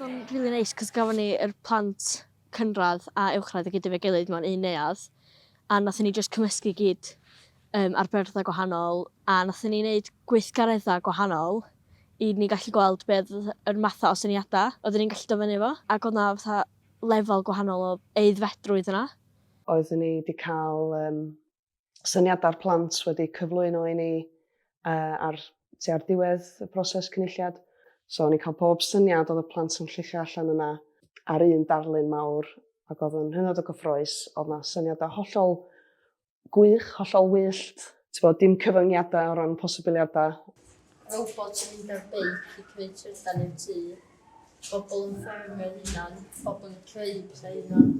Odd o'n rili neis 'c'os gafon ni yr plant cynradd a uwchradd i gyd efo'i gilydd mewn un neuadd a nathon ni jyst cymysgu i gyd yym ar byrddau gwahanol a nathon ni neud gweithgaredda gwahanol i ni gallu gweld be' odd yr matha o syniada oeddwn ni'n gallu do' fyny efo ag odd 'na fatha lefel gwahanol o aeddfedrwydd yna. Oeddwn i 'di ca'l yym syniadau'r plant wedi cyflwyno i ni uh, ar, ti ar diwedd y proses cynulliad. So o'n i'n cael bob syniad oedd y plant yn llichio allan yna ar un darlun mawr ac oedd yn hynod o gyffroes, oedd yna syniadau hollol gwych, hollol wyllt, ti'n bod, dim cyfyngiadau o ran posibiliadau. Robot yn mynd ar beic i creu trydan i'r tŷ, bobl yn ffermio'r hunan, bobl yn creu pethau hunan.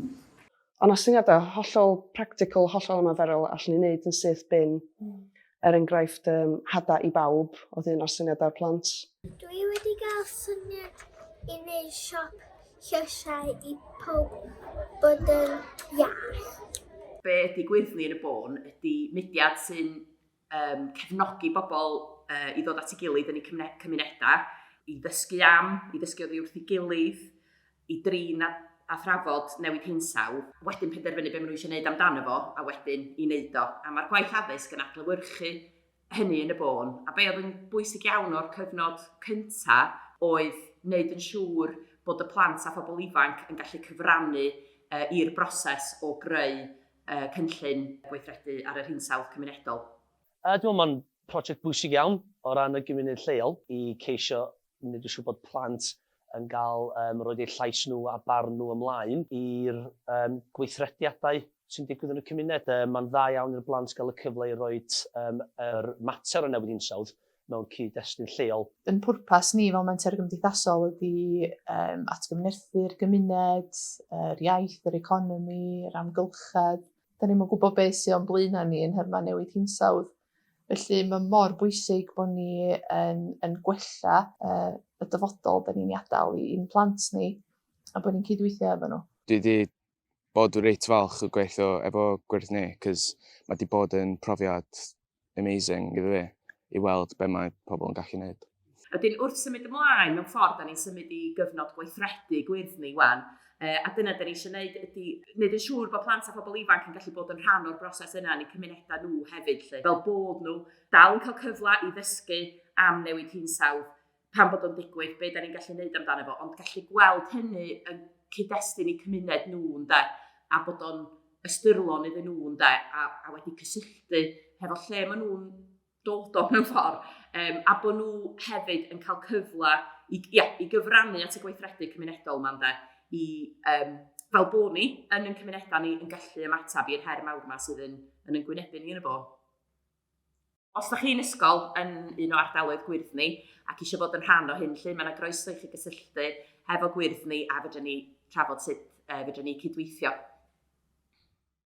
Ond a syniadau hollol practical, hollol ymaferol, allan ni'n neud yn syth bin. Mm. Er enghraifft, um, hada i bawb oedd un o'r syniadau'r plant. Dwi wedi gael syniad i wneud siop llysiau i pob bod yn iach. Be ydy gwyddni yn y bôn ydy mudiad sy'n um, cefnogi bobl uh, i ddod at ei gilydd yn eu cymunedau, i ddysgu am, i ddysgu oddi wrth ei gilydd, i drin a, a thrafod newid hinsaw, wedyn penderfynu beth maen nhw eisiau gwneud amdano fo, a wedyn i wneud o. A mae'r gwaith addysg yn adlywyrchu hynny yn y bôn. A be oedd yn bwysig iawn o'r cyfnod cyntaf oedd wneud yn siŵr bod y plant a phobl ifanc yn gallu cyfrannu uh, i'r broses o greu y cynllun gweithredu ar yr hinsawdd cymunedol. Dwi'n meddwl mae'n prosiect bwysig iawn o ran y gymuned lleol i ceisio wneud yn siŵr bod plant yn cael um, roed eu llais nhw a barn nhw ymlaen i'r um, gweithrediadau sy'n digwydd yn y cymuned. Um, mae'n dda iawn i'r blant gael y cyfle i roi um, yr mater o newid hinsawdd mewn cyd-destun lleol. Ein pwrpas ni fel Menter Gymdeithasol ydy um, atgyfnerthu'r gymuned, yr iaith, yr economi, yr amgylchedd. Da ni'n yn gwybod beth sy'n o'n blaenau ni yn nhermau newid hinsawdd. Felly mae mor bwysig bod ni yn, yn gwella uh, y dyfodol da ni'n ei adael i'n plant ni a bod ni'n cydweithio efo nhw. Dwi wedi bod reit falch o gweithio efo gwyrdd ni, cys mae wedi bod yn profiad amazing iddo fi i weld be mae pobl yn gallu gwneud. Ydyn, wrth symud ymlaen, mewn ffordd, da ni'n symud i gyfnod gweithredu gwyrdd ni wan, a dyna da ni eisiau gwneud ydy wneud yn siŵr bod plant a phobl ifanc yn gallu bod yn rhan o'r broses yna yn eu cymunedau nhw hefyd, lle, fel bod nhw dal yn cael cyfle i ddysgu am newid hinsawdd, pan bod o'n digwydd, be da ni'n gallu gwneud amdano fo, ond gallu gweld hynny yn cyd-destun i cymuned nhw, ynde, a bod o'n ystyrlon iddyn nhw, ynde, a, a wedi cysylltu hefo lle maen nhw'n dod o mewn ffordd, um, a bod nhw hefyd yn cael cyfle i, ia, i gyfrannu at y gweithredu cymunedol yma, ynde, i, um, fel bod ni yn yn cymunedau ni yn gallu ymateb i'r her mawr yma sydd yn, yn yngwynebu ni yn y bod. Os da chi'n ysgol yn un o ardaloedd gwyrdd ni ac eisiau bod yn rhan o hyn lle, mae'n agroeso i chi gysylltu hefo gwyrdd ni a fydden ni trafod sut e, fydden ni cydweithio.